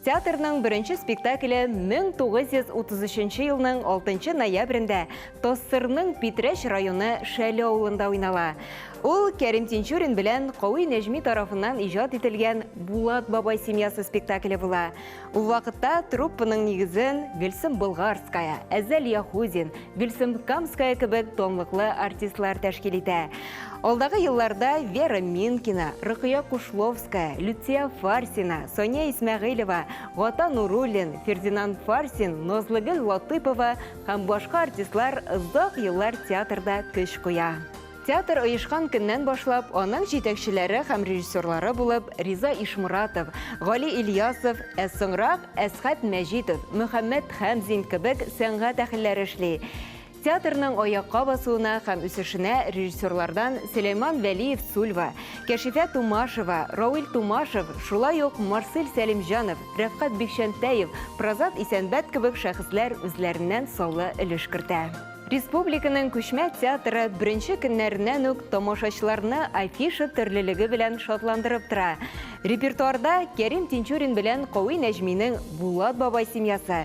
Театрның беренче спектакле 1933 елның 6 ноябрендә ТОССРның Питрәч районы Шәле авылында уйнала. Ул Кәрим Тинчурин белән Кави Нәҗми тарафыннан иҗат ителгән Булат бабай семьясы спектакле була. Ул вакытта труппаның нигезен Гөлсем Болгарская, Әзәл Яхудин, Гөлсем Камская кебек тонлыклы артистлар тәшкил итә. Алдагы елларда Вера Минкина, Рыкыя Кушловская, Люция Фарсина, Соня Исмәгыйлева, Гата Нуруллин, Фердинан Фарсин, Назлыгөл Латыпова һәм башка артистлар озак еллар театрда көч куя. Театр оешкан көннән башлап, аның җитәкчеләре һәм режиссерлары булып Риза Ишмуратов, Гали Ильясов, ә соңрак Әсхәт Мәҗитов, Мөхәммәт Хәмзин кебек сәнгать әһелләре эшли. Театрның аякка басуына һәм үсешенә режиссерлардан Сөләйман Вәлиев Сульва, Кәшифә Тумашева, Рауил Тумашев, шулай ук Марсель Сәлимҗанов, Рәфкать Бикчәнтәев, Прозат Исәнбәт кебек шәхесләр үзләреннән саллы өлеш кертә. Республиканың күчмә театры беренче көннәреннән үк тамашачыларны афиша төрлелеге белән шатландырып тора. Репертуарда Кәрим Тинчурин белән Кави Нәҗминең Булат бабай семьясы,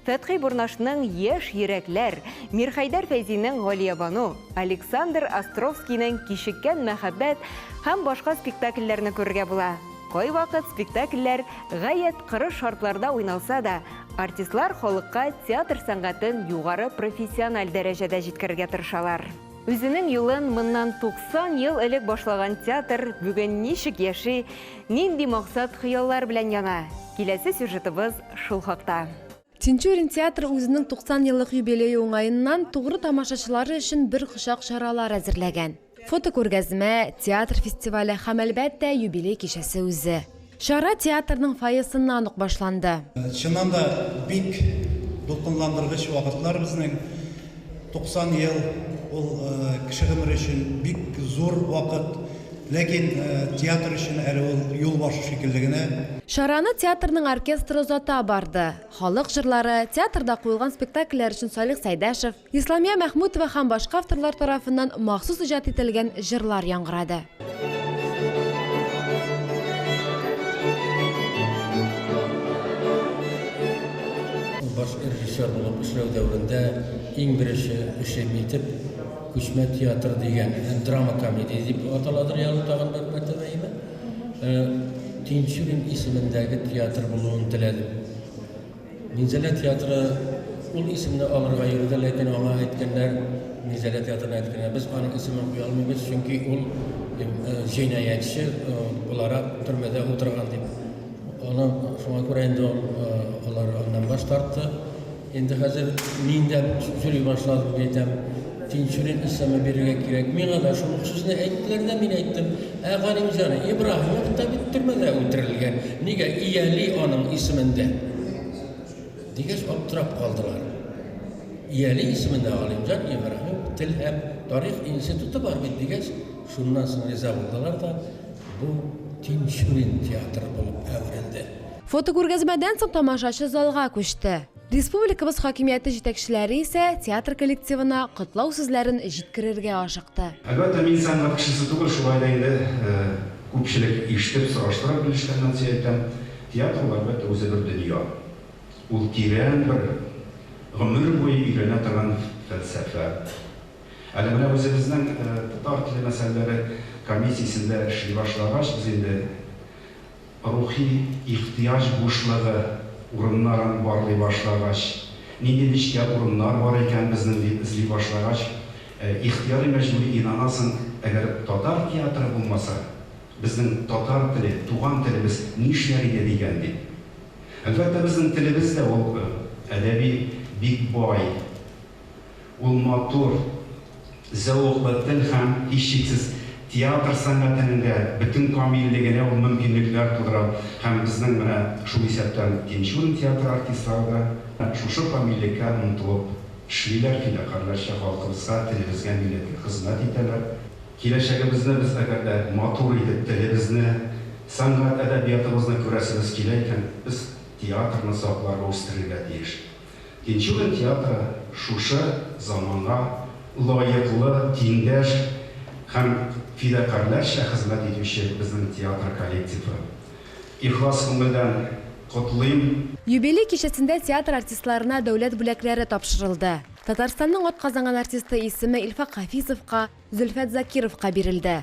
Фәтхи Бурнашның Яшь йөрәкләр, Мирхәйдәр Фәйзинең Галиябану, Александр Островскийның Кичеккән мәхәббәт һәм башка спектакльләрне күрергә була. Кайвакыт спектакльләр гаять кырыс шартларда уйналса да, артистлар халыкка театр сәнгатен югары профессиональ дәрәҗәдә җиткерергә тырышалар. Үзенең юлын моннан 90 ел элек башлаган театр бүген ничек яши, нинди максат-хыяллар белән яна? Киләсе сюжетыбыз шул хакта. Тинчурин театры үзенең 90 еллык юбилее уңаеннан, тугры тамашачылары өчен бер кочак чаралар әзерләгән. Фотокүргәзмә, театр фестивале һәм, әлбәттә, юбилей кичәсе үзе. Чара театрның фойесыннан ук башланды. Чыннан да, бик дулкынландыргыч вакытлар безнең. 90 ел, ул кеше гомере өчен бик зур вакыт. Ләкин театр өчен әле ул юлбашу шикелле генә. Чараны театрның оркестры озата барды. Халык җырлары, театрда куелган спектакльләр өчен Салих Сәйдәшев, Исламия Мәхмүтова һәм башка авторлар тарафыннан махсус иҗат ителгән җырлар яңгырады. Ул баш режиссер булып эшләү дәверендә иң беренче эшем итеп Күчмә театры дигән драма-комедия дип аталадыр ягъни тагын бер мәртәбә әйбәт Тинчурин исемендәге театр булуын теләдем. Минзәлә театры ул исемне алырга йөрде, ләкин аңа әйткәннәр, Минзәлә театрына әйткәннәр, без аның исемен куя алмыйбыз, чөнки ул җинаятьче буларак төрмәдә утырган дип. Аны шуңа күрә инде алар аннан баш тартты. Инде хәзер мин дә сөйли башладым дип әйтәм. Тинчурин исеме бирергә кирәк. Миңа да шул ук сүзне әйттеләр дә, мин әйттем. Ә Галимҗан Ибраһимов та бит төрмәдә үтерелгән, нигә Ияли аның исемендә? дигәч, аптырап калдылар. Ияли исемендә Галимҗан Ибраһимов тел һәм тарих институты бар бит, дигәч, шуннан соң риза булдылар да, бу Тинчурин театры булып әверелде. Фотокүргәзмәдән соң тамашачы залга күчте. Республикабыз хакимияте җитәкчеләре исә театр коллективына котлау сүзләрен җиткерергә ашыкты. Әлбәттә, мин сәнгать кешесе түгел, шулай да инде күпчелек ишетеп, сораштырып белешкәннән сөй әйтәм, театр ул, әлбәттә, үзе бер дөнья. Ул тирән бер, гомер буе өйрәнә торган фәлсәфә. Әле менә үзебезнең татар теле мәсьәләләре комиссиясендә эшли башлагач, без инде Рухи ихтыяҗ бушлыгы урыннарын барлый башлагач, нинди нечкә урыннар бар икән безнең дип эзли башлагач, ихтыяри-мәҗбүри инанасың, әгәр татар театры булмаса, безнең татар теле, туган телебез нишләр иде дигән дип. Әлбәттә, безнең телебез дә ул әдәби бик бай, Ул матур, зәвыклы тел һәм, һичшиксез, театр сәнгатенең дә бөтен камиллегенә ул мөмкинлекләр тудыра һәм безнең менә шул исәптән Тинчурин театры артистлары да шушы камиллеккә омтылып эшлиләр, фидакарьләрчә халкыбызга, телебезгә, милләткә хезмәт итәләр. Киләчәгебезне без әгәр дә матур итеп, телебезне, сәнгать-әдәбиятыбызны күрәсебез килә икән, без театрны сакларга, үстерергә тиеш. Тинчурин театры шушы заманга лаеклы, тиңдәш һәм фидакарьләрчә хезмәт итүче безнең театр коллективы. Ихлас күңелдән котлыйм! Юбилей кичәсендә театр артистларына дәүләт бүләкләре тапшырылды. Татарстанның атказанган артисты исеме Илфак Хафизовка, Зөлфәт Закировка бирелде.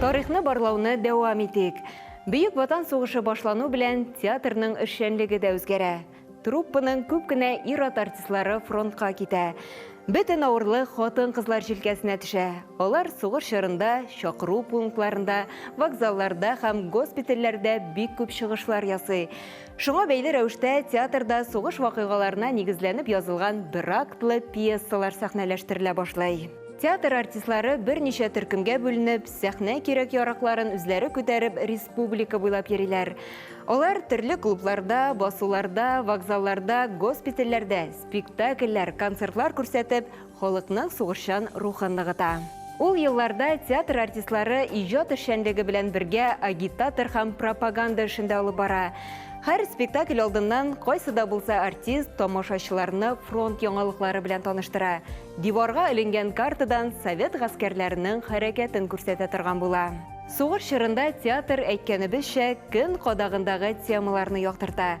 Тарихны барлауны дәвам итик. Бөек Ватан сугышы башлану белән театрның эшчәнлеге дә үзгәрә. Труппаның күп кенә ир-ат артистлары фронтка китә. Бөтен авырлык хатын-кызлар җилкәсенә төшә. Алар сугыш чорында чакыру пунктларында, вокзалларда һәм госпитальләрдә бик күп чыгышлар ясый. Шуңа бәйле рәвештә театрда сугыш вакыйгаларына нигезләнеп язылган бер актлы пьесалар сәхнәләштерелә башлый. Театр артистлары берничә төркемгә бүленеп, сәхнә кирәк-яракларын үзләре күтәреп республика буйлап йөриләр. Алар төрле клубларда, басуларда, вокзалларда, госпитальләрдә спектакльләр, концертлар күрсәтеп, Халыкның сугышчан рухын ныгыта. Ул елларда театр артистлары иҗат эшчәнлеге белән бергә агитатор һәм пропаганда эшен дә алып бара. Һәр спектакль алдыннан кайсы да булса артист тамашачыларны фронт яңалыклары белән таныштыра, диварга эленгән картадан совет гаскәрләренең хәрәкәтен күрсәтә торган була. Сугыш чорында театр, әйткәнебезчә, көн кадагындагы темаларны яктырта.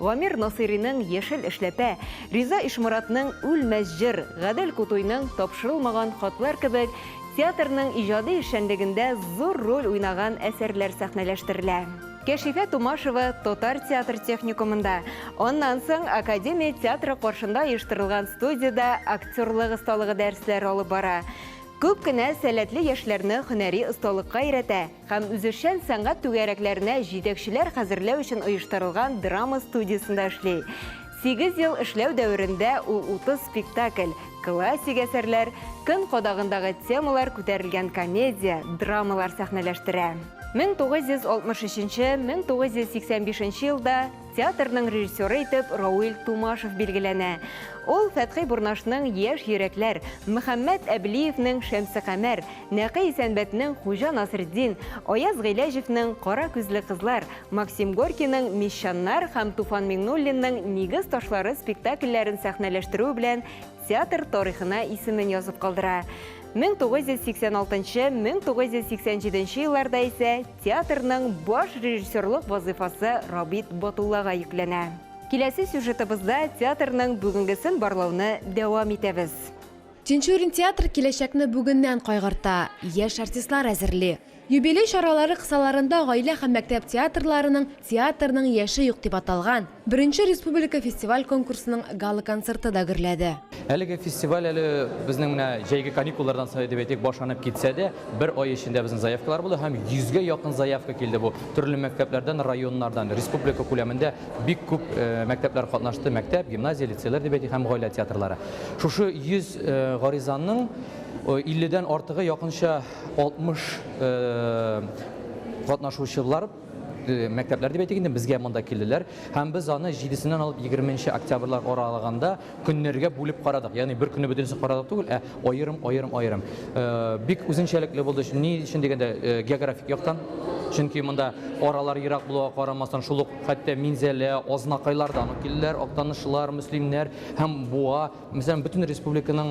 Гамир Насыйриның Яшел эшләпә, Риза Ишморатның Үлмәс җыр, Гадел Кутуйның Тапшырылмаган хатлар кебек театрның иҗади эшчәнлегендә зур роль уйнаган әсәрләр сәхнәләштерелә. Кәшифә Тумашева татар театр техникумында, аннан соң Академия театры каршында оештырылган студиядә актерлык осталыгы дәресләре алып бара. Күп кенә сәләтле яшьләрне һөнәри осталыкка өйрәтә. һәм үзешчән сәнгать түгәрәкләренә җитәкчеләр хәзерләү өчен оештырылган драма студиясендә эшли. Сигез ел эшләү дәверендә ул 30 спектакль, классик әсәрләр, көн кадагындагы темалар күтәрелгән комедия, драмалар сәхнәләштерә. 1963-1985 елда Театрның режиссеры итеп Рауил Тумашев билгеләнә. Ул Фәтхи Бурнашның Яшь йөрәкләр, Мөхәммәт Әблиевнең Шәмсекамәр, Нәкый Исәнбәтнең Хуҗа Насретдин, Аяз Гыйләҗевнең Кара күзле кызлар, Максим Горькийның Мещаннар һәм Туфан Миңнуллинның Нигез ташлары спектакльләрен сәхнәләштерүе белән Театр тарихына исемен язып калдыра. 1986-1987 елларда исә театрның баш режиссерлык вазыйфасы Рабит Батуллага йөкләнә. Киләсе сюжетыбызда театрның бүгенгесен барлауны дәвам итәбез. Тинчурин театры киләчәкне бүгеннән кайгырта, яшь артистлар әзерли. Юбилей чаралары кысаларында Гаилә һәм мәктәп театрларының Театрның яше юк дип аталган I республика фестиваль-конкурсының гала-концерты да гөрләде. Әлеге фестиваль әле безнең менә җәйге каникуллардан соң дип әйтик, башланып китсә дә, бер ай эчендә безнең заявкалар булды һәм йөзгә якын заявка килде. Бу төрле мәктәпләрдән, районнардан, республика күләмендә бик күп мәктәпләр катнашты, мәктәп, гимназия, лицейлар дип әйтик һәм гаилә театрлары. Шушы 100 гаризаның 50 дән артыгы якынча, 60 катнашучылар мәктәпләр дип әйтик инде безгә монда килделәр һәм без аны 7-сеннән алып 20 нче октябрьлар аралыгында көннәргә бүлеп карадык ягъни бер көнне бөтенесен карадык түгел ә аерым аерым аерым бик үзенчәлекле булды ни өчен дигәндә географик яктан чөнки монда аралар ерак булуга карамастан шул ук хәтта минзәлә азнакайлардан ук килделәр актанышлылар мөслимнәр һәм буа Мәсәлән, бөтен республиканың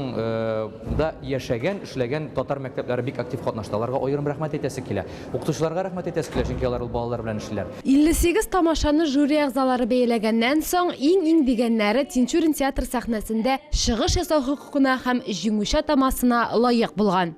да яшәгән, эшләгән татар мәктәпләре бик актив катнашты. Аларга аерым рәхмәт әйтәсе килә. Укытучыларга рәхмәт әйтәсе килә, чөнки алар ул балалар белән эшлиләр. 58 тамашаны жюри әгъзалары бәяләгәннән соң, иң-иң дигәннәре Тинчурин театры сәхнәсендә чыгыш ясау хокукына һәм Җиңүче атамасына лаек булган.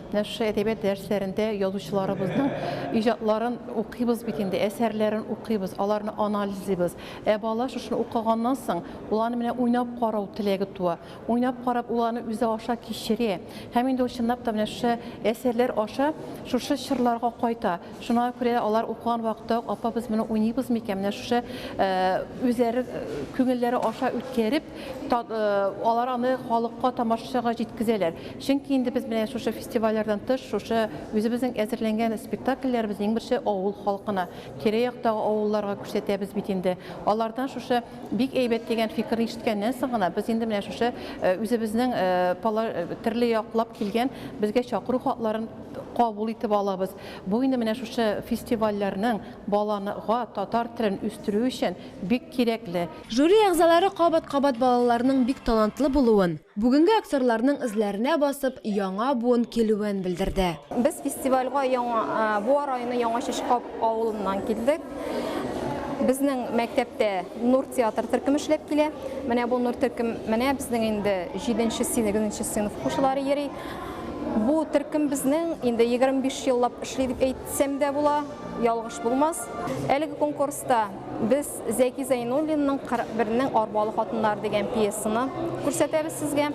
Нәшри әдәбият дәресләрендә язучыларыбызның иҗатларын укыйбыз бит инде, әсәрләрен укыйбыз, аларны анализлыйбыз. Ә бала шушыны укыганнан соң, ул аны менә уйнап карау теләге туа. Уйнап карап, ул аны үзе аша кичерә. Һәм инде ул чынлап та менә шушы әсәрләр аша шушы чорларга кайта. Шуңа күрә алар укыган вакытта ук, апа, без моны уйныйбыз микән? Менә шушы үзләре күңелләре аша үткәреп, алар аны халыкка, тамашачыга җиткезәләр. Чөнки инде без менә шушы фестивальләрдән тыш, шушы үзебезнең әзерләнгән спектакльләребезне иң беренче авыл халкына, тирә-яктагы авылларга күрсәтәбез бит инде. Алардан шушы бик әйбәт дигән фикерне ишеткәннән соң гына, без инде менә шушы үзебезнең төрле яклап килгән безгә чакыру хатларын кабул итеп алабыз. Бу инде менә шушы фестивальләрнең баланы га татар телен үстерү өчен бик кирәкле. Жюри әгъзалары кабат-кабат балаларның бик талантлы булуын, бүгенге актерларның эзләренә басып, яңа буын килүен белдерде. Без фестивальгә Яңа Буа районы Яңа Чишкап авылыннан килдек. Безнең мәктәптә Нур театр төркеме эшләп килә. Менә бу Нур төркем, менә безнең инде җиденче сыйныф, сыйныф укучылары йөри. Бу төркем безнең инде 25 еллап эшли дип әйтсәм дә була, ялгыш булмас. Әлеге конкурста без Зәки Зәйнуллинның 41-нең арбалы хатыннары дигән пьесаны күрсәтәбез сезгә.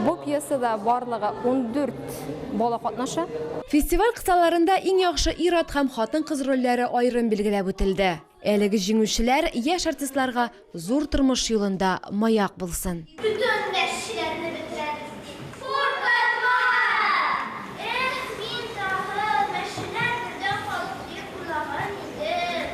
Бу пьесада барлыгы 14 бала катнаша. Фестиваль кысаларында иң яхшы ир-ат һәм хатын-кыз рольләре аерым билгеләп үтелде. Әлеге җиңүчеләр яшь артистларга Зур тормыш юлында маяк булсын. Бөтен дәрсчеләрне бетерәбез дип куркытма! Эх, мин тагы мәченә кердә калдым дип уйлаган идем.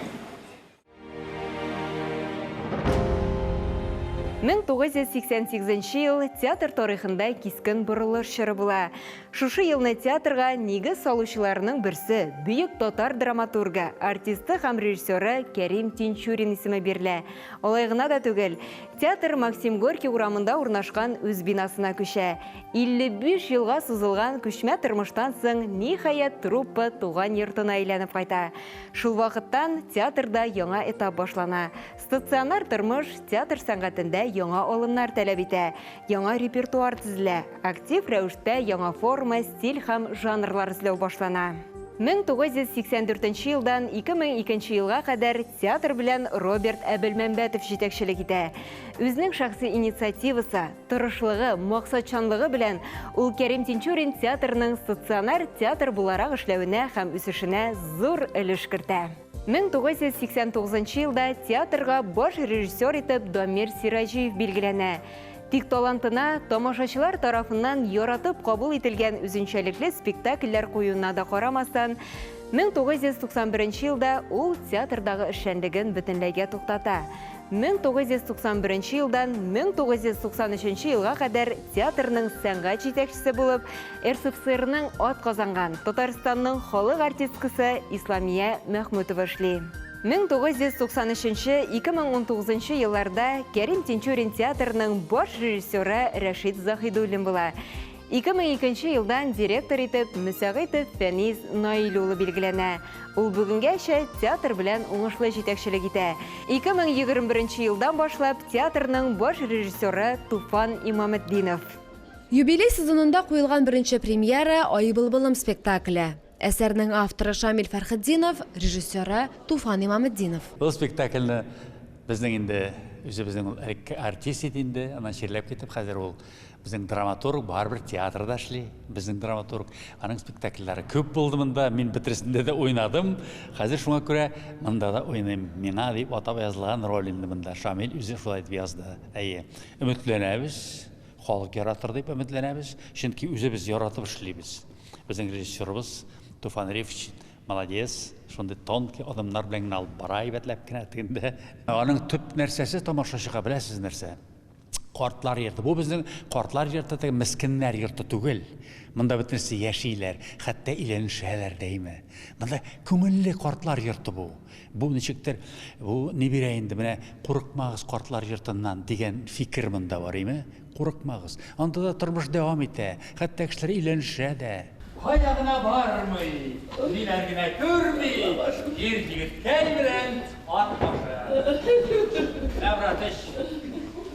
1988 ел театр тарихында кискен борылыш чоры була. Шушы елны театрга нигез салучыларның берсе, бөек татар драматургы, артисты һәм режиссеры Кәрим Тинчурин исеме бирелә. Алай гына да түгел, театр Максим Горький урамында урнашкан үз бинасына күчә. 55 елга сузылган күчмә тормыштан соң, ниһаять, труппа туган йортына әйләнеп кайта. Шул вакыттан театрда яңа этап башлана. Стационар тормыш театр сәнгатендә яңа алымнар таләп итә, яңа репертуар тезелә, актив рәвештә яңа форма, стиль һәм жанрлар эзләү башлана. 1984 елдан 2002 елга кадәр театр белән Роберт Әбелмәмбәтов җитәкчелек итә. Үзенең шәхси инициативасы, тырышлыгы, максатчанлыгы белән ул Кәрим Тинчурин театрының стационар театр буларак эшләвенә һәм үсешенә зур өлеш кертә. 1989 нчы елда театрга баш режиссер итеп Дамир Сираҗиев билгеләнә. Тик талантына, тамашачылар тарафыннан яратып кабул ителгән үзенчәлекле спектакльләр куюына да карамастан, 1991 елда ул театрдагы эшчәнлеген бөтенләйгә туктата. 1991 елдан 1993 елга кадәр театрның сәнгать җитәкчесе булып, РСФСРның атказанган, Татарстанның халык артисткасы Исламия Мәхмүтова эшли. 1993-2019 елларда Кәрим Тинчурин театрының баш режиссеры Рәшит Заһидуллин була. 2002 елдан директор итеп Мөсәгыйтов Фәниз Наил улы билгеләнә. Ул бүгенгәчә театр белән уңышлы җитәкчелек итә. 2021 елдан башлап театрның баш режиссеры Туфан Имаметдинов. Юбилей сезонында куелган беренче премьера, Ай былбылым спектакле. Әсәрнең авторы Шамил Фәрхетдинов, режиссеры, Туфан Имаметдинов. Ул спектакльне безнең инде үзебезнең ул элекке артист иде инде, аннан чирләп китеп, хәзер ул безнең драматург, барыбер театрда эшли, безнең драматург. Аның спектакльләре күп булды монда, мин бөтересендә дә уйнадым. Хәзер шуңа күрә монда да уйныйм. Миңа дип атап язылган роль инде монда. Шамил үзе шулай дип язды. Әйе, өметләнәбез. Халык яратыр дип өметләнәбез, чөнки үзебез яратып эшлибез. Безнең режиссерыбыз Туфан Рифч молодец, шундый тонкий адымнар белән генә алып бара, әйбәтләп кенә тегендә. Аның төп нәрсәсе тамашачыга беләсез нәрсә? Картлар йорты. Бу безнең картлар йорты теге мескеннәр йорты түгел. Монда бөтенесе яшиләр, хәтта өйләнешәләр дәйме. Монда күңелле картлар йорты бу. Бу ничектер, бу нибирә инде, менә курыкмагыз картлар йортыннан дигән фикер монда бар име? Курыкмагыз. Анда да тормыш дәвам итә, хәтта кешеләр өйләнешә дә. Кая гына бармый, ниләр генә күрми, ир егеткәй белән ат башы. Менә братыч.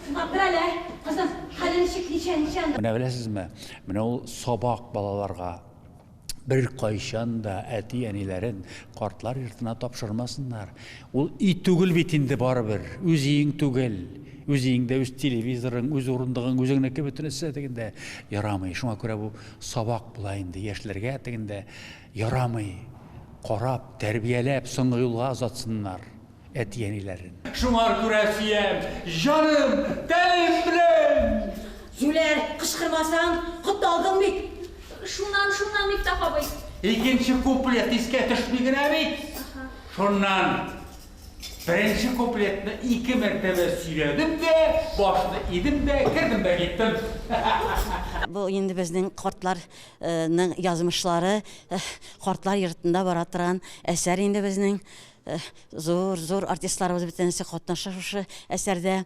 Сынап тор әле, кызым, хәле ничек, ничә, ничә анда? Менә беләсезме, менә ул сабак балаларга. беркайчан да әти-әниләрен картлар йортына тапшырмасыннар. Ул өй түгел бит инде барыбер, үз өең түгел. Үз өеңдә үз телевизорың, үз урындыгың, үзеңнеке бөтенесе тегендә ярамый. Шуңа күрә бу сабак була инде яшьләргә тегендә ярамый. Карап, тәрбияләп, соңгы юлга озатсыннар. әти-әниләрен. Шуңар күрә сөям, җаным, тәнем белән! Зүләр, кычкырмасаң, котталдың бит! Шуннан, шуннан, Мифтах абый. Икенче куплет искә төшми генә бит. Шуннан, беренче куплетны ике мәртәбә сөйләдем дә, башны идем дә, кердем дә киттем. Бу инде безнең картларның язмышлары, картлар йортында бара торган әсәр инде безнең. Зур, зур артистларыбыз бөтенесе катнаша шушы әсәрдә.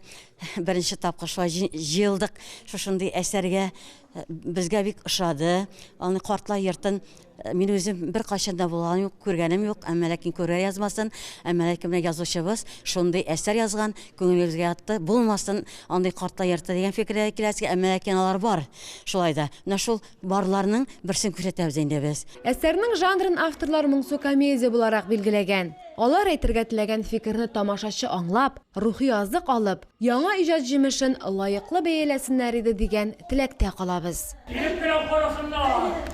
Беренче тапкыр шулай җи- җыелдык шушындый әсәргә. Э, Безгә бик ошады. Аны картлар йортын э, мин үзем беркайчан да булган юк, күргәнем юк. Әмма ләкин күрә язмасын. Әмма ләкин менә язучыбыз шундый әсәр язган, күңелебезгә ятты. Булмасын андый картлар йорты дигән фикергә киләсең, әмма ләкин алар бар. Шулай да. Менә шул Барларның берсен күрсәтәбез инде без. Әсәрнең жанрын авторлар моңсу комедия буларак билгеләгән. Алар әйтергә теләгән фикерне тамашачы аңлап, рухи азык алып, яңа иҗат җимешен лаеклы бәяләсеннәр иде дигән теләктә калабыз. Килеп кенә карасыннар!